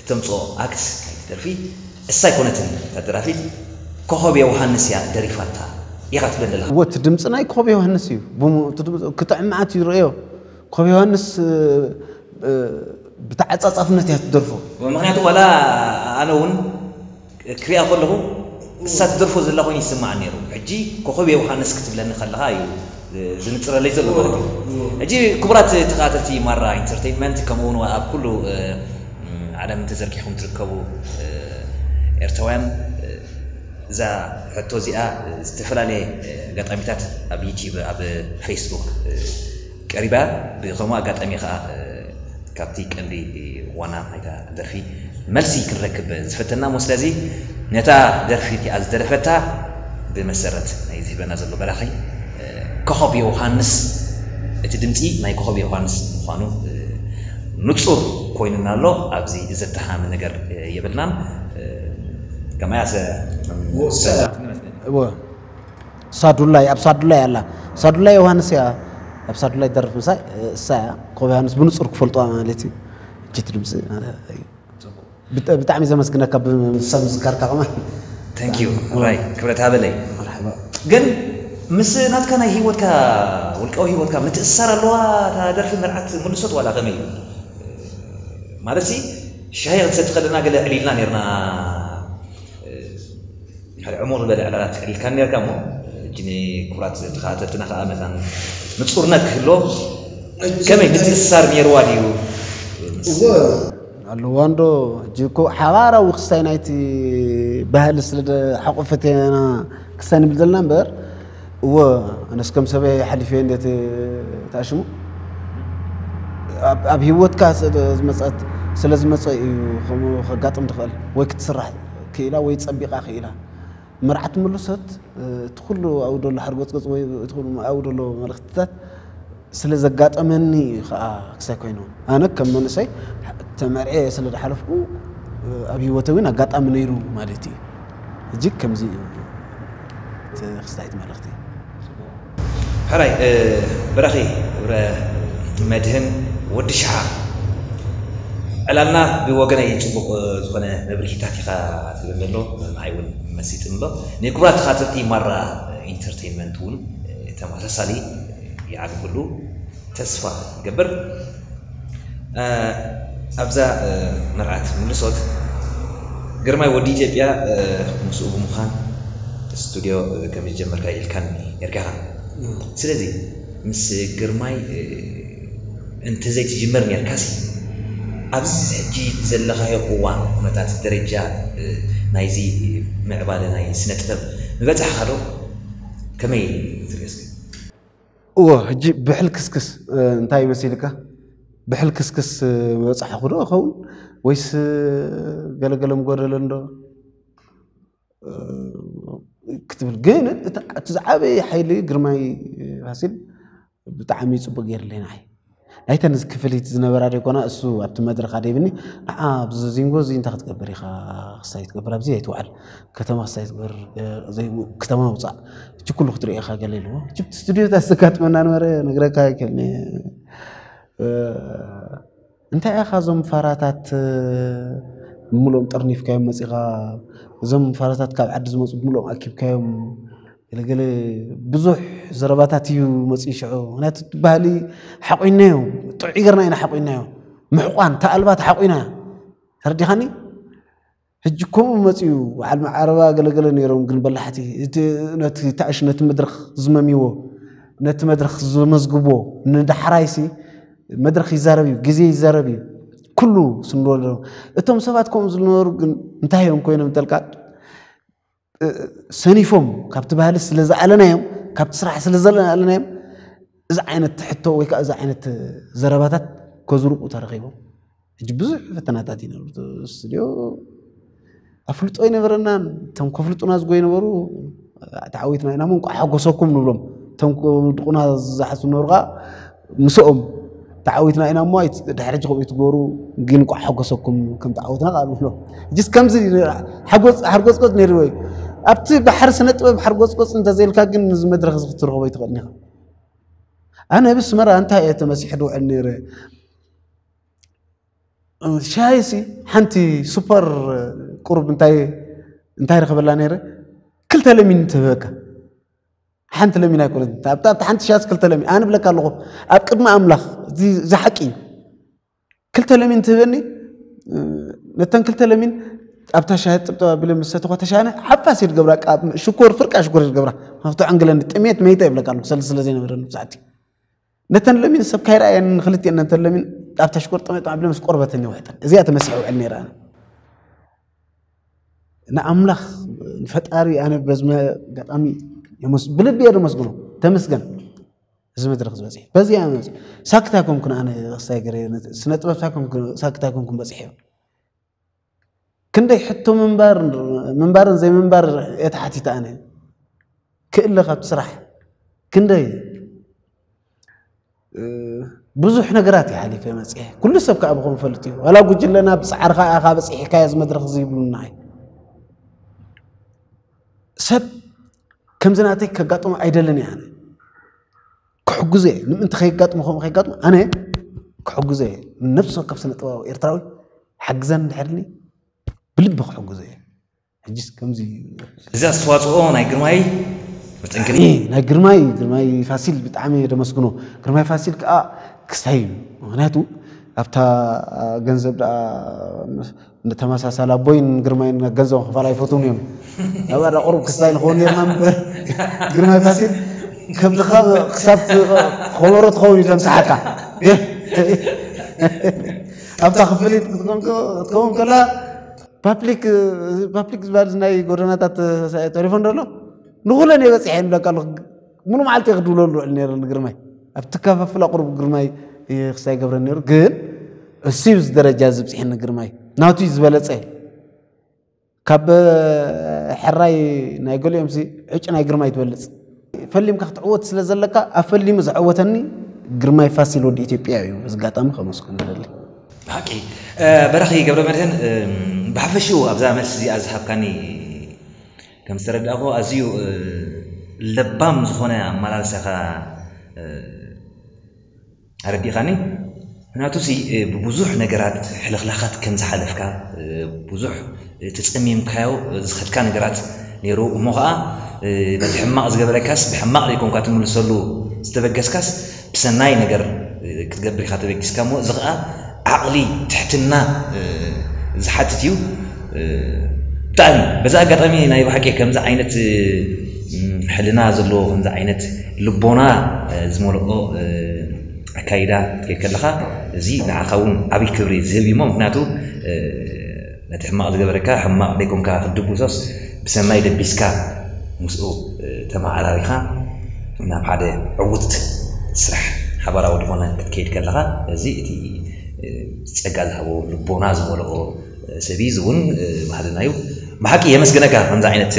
እተምጽኦ ኣክት ናይቲ ደርፊ እሳ ኣይኮነትን እታ ደራፊት ኮኾብ የውሃንስ እያ ደሪፋታ ኢኻ ትብለኒ ዘለኻ። እወ እቲ ድምጺ ናይ ኮብ ዮሃንስ እዩ ብሙኡ እቲ ድምጺ ክጥዕም መዓት እዩ ርእዮ ኮብ ዮሃንስ ብተዓጻጻፍነት እያ ትደርፎ። እወ ምኽንያቱ ዋላ ኣነ ውን ክሪኣ ከለኹ ክሳብ ትደርፎ ዘላ ኮይኑ ይስማዓኒ ኔሩ ሕጂ ኮኾብ የውሃንስ ክትብለኒ ከለኻ እዩ ዝንጽረለይ ዘሎ ማለት እዩ ሕጂ ክቡራት ተኸታተልቲ ማራ ኢንተርተይንመንት ከምኡ ውን ኣብ ኩሉ ዓለም ተዘርጊሕኩም ትርከቡ ኤርትራውያን እዛ ሕቶ እዚኣ ዝተፈላለየ ኣጋጣሚታት ኣብ ዩቲብ ኣብ ፈይስቡክ ቀሪባ ብከምኡ ኣጋጣሚ ከኣ ካብቲ ቀንዲ ዋና ናይታ ደርፊ መልሲ ክንረክብ ዝፈተና እሞ ስለዚ ነታ ደርፊ እቲኣ ዝደረፈታ ብመሰረት ናይ ዝህበና ዘሎ በራኺ ኮኾብ የውሃንስ እቲ ድምጺ ናይ ኮኾብ የውሃንስ ምዃኑ ንጹር ኮይኑና ኣሎ ኣብዚ ዘተሃም ነገር የብልናን ከማያሰ እወ ሳዱላይ ኣብ ሳዱላይ ኣላ ሳዱላይ ዮሃንስ እያ ኣብ ሳዱላይ ደርፍ ምሳይ እሳ እያ ኮብ ዮሃንስ ብንጹር ክፈልጥዋ ማለት እዩ እጅት ድምፂ ብጣዕሚ ዘመስግነካ ብሰብ ምዝካርካ ከማ ታንኪዩ ራይ ክብረት ሃበለይ ግን ምስ ናትካ ናይ ህይወትካ ውልቃዊ ህይወትካ ምትእስሳር ኣለዋ እታ ደርፊ መርዓት ምልሶት ዋላ ከመይ ማለት ሲ ሻሂ ክትሰቲ ከለና ገለ ዕሊልና ነርና ሓደ ዕሙቕ ዝበለ ዕላላት ኣልዒልካ ኔርካ እሞ ሕጂ ንክቡራት ተኸታተልትና ከኣ መታን ንጹርነት ክህሎ ከመይ ምትእስሳር ኔርዋ ድዩ ምስ ኣለዋ እንዶ ሕጂ እኮ ሓባራዊ ክስታይ ናይቲ ባህሊ ስለ ሓቆፈትና ክስታይ ንብል ዘለና እምበር እወ ኣነስ ከም ሰበይ ሓሊፈ ነቲ ተኣሽሙ ኣብ ሂወትካ ዝመፀት ስለ ዝመፀ እዩ ከምኡ ከጋጥም ትኽእል ወይ ክትስራሕ ክኢላ ወይ ፀቢቓ ክኢላ መርዓት ምሉሰት እቲ ኩሉ ኣብኡ ዘሎ ሓርጎፅጎፅ ወይ እቲ ኩሉ ኣብኡ ዘሎ መልእኽትታት ስለ ዘጋጠመኒ እዩ ከኣ ክሳይ ኮይኑ ኣነ ከም መንእሰይ ተመርዔ ስለ ዝሓለፍኩ ኣብ ሂወተይ እውን ኣጋጣሚ ነይሩ ማለት እዩ እጅግ ከምዚ እዩ ክስታይት መልእኽቲ ሕራይ ብራኺ ገብረ መድህን ወዲ ሽሓ ዕላልና ብወገነይ ጽቡቕ ዝኾነ መብርሂታት ኢኻ ትህበን ዘሎ ንዓይ ውን መሲጥኒ ኣሎ ናይ ክቡራት ተኻታተልቲ ማራ ኢንተርተይንመንት ውን ተመሳሳሊ ይዓቢ ኩሉ ተስፋ ይገብር ኣብዛ መርዓት ምልሶት ግርማይ ወዲ ኢትዮጵያ ምስኡ ብምዃን ስቱድዮ ከም ዝጀመርካ ኢልካኒ ነርካኻ ስለዚ ምስ ግርማይ እንተዘይ ትጅመር ነርካሲ ኣብዚ ሕጂ ዘለኻዮ እዋን ኩነታት ደረጃ ናይዚ ምዕባለ ናይ ስነ ጥበብ ምበጻሕካዶ ከመይ ትርእዮ እስከ እወ ሕጂ ብሕልክስክስ እንታይ መሲልካ ብሕልክስክስ በጻሕኹ ዶ እኸውን ወይስ ገለገለ ምጎደለ እንዶ ክትብል ግን እቲ ዝዓበየ ሓይሊ ግርማይ ፋሲል ብጣዕሚ ፅቡቅ ገይርለይ ንዓይ ናይተን ክፍሊት ዝነበራ ደይኮና እሱ ኣብቲ መድረኽ ኣደይብኒ ንዓ ኣብዚ ዚንጎ እዚ እንታይ ክትገብር ኢኻ ክሳይ ትገብር ኣብዚ ኣይትውዓል ከተማ ክሳይ ትገብር ከተማ ውፃእ እቺ ኩሉ ክትሪኦ ኢኻ ገለ ኢልዎ ጅብቲ ስቱድዮታት ዘጋጥመና ነበረ ነግረካ ይክእል እንታይ ኢኻ እዞም ፋራታት ብምልኦም ጠርኒፍካዮም መፂኻ እዞም ፋራታት ካብ ዓዲ ዝመፁ ብምልኦም ኣኪብካዮም ገለገለ ብዙሕ ዘረባታት እዩ መፅኡ ሽዑ ምክንያቱ ባህሊ ሓቑናዮ ጥዑይ ገርና ኢና ሓቑናዮ ምሕቋን ተኣልባ ተሓቑና ተረዲኻኒ ሕጂ ከምኡ መፅኡ በዓል መዓረባ ገለገለ ነይሮም ግን በላሕቲ ነቲ ታእሽ ነቲ መድረኽ ዝመምዎ ነቲ መድረኽ ዝመዝግቦ ንዳሕራይሲ መድረኽ ይዛረብ እዩ ግዜ ይዛረብ እዩ ኩሉ ስንወሎ እቶም ሰባት ከምኡ ዝነበሩ ግን እንታይ እዮም ኮይኖም ተልካ ሰኒፎም ካብቲ ባህሊ ስለ ዝኣለናዮም ካብቲ ስራሕ ስለ ዘለኣለናዮም እዚ ዓይነት ሕቶ ወይ ከዓ እዚ ዓይነት ዘረባታት ከዝርቁ ተረኺቦም ሕጂ ብዙሕ ፈተናታት እዩ ነሩ ስቱድዮ ኣፍልጦ ኣይነበረናን እቶም ከፍልጡና ዝጎ ይነበሩ ተዓዊትና ኢና እሞ እንቋዕ ሓጎሰኩም ንብሎም እቶም ድቁና ዝሓሱ ነበሩ ከዓ ምስኦም ተዓዊትና ኢና እሞ ድሕሪ ሕጂ ከምኡ ትገብሩ ግን እንቋዕ ሓጎሰኩም ከም ተዓወትና ቃል ብሎ ጅስ ከምዚ ሓርጎፅቆፅ ነይሩ ወይ ኣብቲ ባሕሪ ስነ ጥበብ ሓርጎፅቆፅ እንተዘይልካ ግን ነዚ መድረኽ እዚ ክትረኽቦ ይትኽእል ኢኻ ኣነ ኣብ ኣስመራ እንታይ እየ ተመሲሐ ድውዕል ነይረ ሻይሲ ሓንቲ ሱፐር ቁሩብ እንታይ እንታይ ረኸበላ ነይረ ክልተ ለሚን ተበካ ሓንቲ ለሚን ኣይኮነት ኣብታ ሓንቲ ሻስ ክልተ ለሚን ኣነ ብለካ ኣለኹ ኣብ ቅድሚ ኣምላኽ እዚ ዝሓቂ እዩ ክልተ ለሚን ትህበኒ ነተን ክልተ ለሚን ኣብታ ሻሂ ጥብጠባ ቢለ ምስ ሰተኳ ተሻነ ሓፋስ እየ ዝገብራ ሽኮር ፍርቃ ሽኮር እየ ዝገብራ ካብቲ ዕንግለኒ ጥሜት መይተ ይብለካ ኣለኩ ሰለ ስለ ዘይነበረኒ ብዛዕቲ ነተን ለሚን ሰብ ካይረኣየን ንክልቲኤን ነተን ለሚን ኣብ ተሽኮር ጠመጠም ኣቢለ ምስ ቆርበተን ይውዕጠን እዚኣ ተመሲሐ ውዕል ነይረ ኣነ ንኣምላኽ ንፈጣሪ ኣነ በዝመ ኣጋጣሚ ብልቢ እየ ደመስግኖ ተመስገን እዚ መድረክ ዝበፅሐ በዚ ሳክታ ኮንኩን ኣነ ክስታይ ገረ ስነ ጥበብ ሳክታ ኮንኩን በፅሐ ክንደይ ሕቶ ምንባርን ዘይምንባር እየ ተሓቲተ ኣነ ክእለ ካብቲ ስራሕ ክንደይ ብዙሕ ነገራት እዩ ሓሊፈ መፅሐ ኩሉ ሰብ ከዓ ብኸም ፈልጥ እዩ ዋላ ጉጅለና ብፃዕርካ ኢኻ በፂሕካዮ እዚ መድረክ እዚ ይብሉና እዩ ሰብ ከምዚ ናተይ ከጋጥሞ ኣይደልን እያ ክሕግዞ እየ ንምእንቲ ከይጋጥሙ ከምኡ ከይጋጥሙ ኣነ ክሕግዞ እየ ነብሲ ወከፍ ስነ ጥበባዊ ኤርትራዊ ሓግዘን ድሕርኒ ብልቢ ክሕግዞ እየ ሕጂስ ከምዚ እዚ ኣስተዋፅኦ ናይ ግርማይ መጠንክሪ ናይ ግርማይ ግርማይ ፋሲል ብጣዕሚ ደመስግኖ ግርማይ ፋሲል ከዓ ክስታይ እዩ ምክንያቱ ኣብታ ገንዘብ ንተመሳሳሊ ኣቦይን ግርማይን ገንዘብ ክፋል ኣይፈትውን እዮም ናብ ኣዳ ቁሩብ ክስታይ ንኸውን ነርና ምበር ግርማይ ፋሲል ከብድኻ ክሳብ ከበሮ ትኸውን እዩ ዘምስሓካ ኣብታ ክፍሊት ክትከውን ከላ ፓፕሊክ ፓፕሊክ ዝበሃል ናይ ጎደናታት ተሪፎ እንዶ ኣሎ ንኹለን እየ በፂሐ ይብለካ ኣለኹ ሙሉ መዓልቲ ክድብለሉ ውዕል ነይረ ንግርማይ ኣብቲ ከፈፍል ኣቕርቡ ግርማይ ክሳይ ገብረ ነይሩ ግን እሱዩ ዝደረጃ ዝብፅሒኒ ግርማይ ናቱ ዝበለፀ ካብ ሕራይ ናይ ገሊኦም ዕጭ ናይ ግርማይ ትበልፅ ፈሊምካ ክትዕወት ስለ ዘለካ ኣብ ፈሊሙ ዝዕወተኒ ግርማይ ፋሲል ወዲ ኢትዮጵያ እዩ ዝጋጣሚ ከመስኩን ደሊ ብሓቂ በረኺ ገብረ መድህን ብሓፈሽኡ ኣብዛ መልሲ እዚኣ ዝሃብካኒ ከም ዝተረዳእኩዎ ኣዝዩ ለባም ዝኾነ ኣመላልሳ ኢኻ ኣረዲእኻኒ። ምኽንያቱሲ ብብዙሕ ነገራት ሕልኽላኻት ከም ዝሓለፍካ፣ ብዙሕ ተጸሚምካዮ ዝኸድካ ነገራት ነይሩ እሞ ኸኣ በቲ ሕማቕ ዝገበረካስ ብሕማቕ ዘይኮንካ ትምልሰሉ ዝተበገስካስ፣ ሰናይ ነገር ክትገብር ኢኻ ተበጊስካ እሞ እዚ ኸኣ ዓቕሊ ትሕትና ዝሓትት እዩ ብጣዕሚ በዚ ኣጋጣሚ ናይ ብሓቂ ከምዚ ዓይነት ሕልና ዘለዎ ከምዚ ዓይነት ልቦና ዝመልኦ ኣካይዳ ክትከይድ ከለኻ እዚ ንዓኻ እውን ዓብይ ክብሪ ዝህብ እዩ እሞ ምኽንያቱ ነቲ ሕማቕ ዝገበረካ ሕማቕ ደይኮንካ ክትድብሶስ ብሰናይ ደቢስካ ምስኡ ተመዓራሪኻ ናብ ሓደ ዕዉት ስራሕ ሓባራዊ ዝኾነ ክትከይድ ከለኻ እዚ እቲ ጸጋ ዝሃቦ ልቦና ዝመልኦ ሰብ እዩ እዚ እውን ባህልና እዩ ብሓቂ የመስግነካ ከምዚ ዓይነት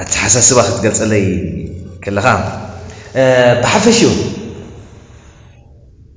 ኣተሓሳስባ ክትገልጸለይ ከለኻ ብሓፈሽኡ።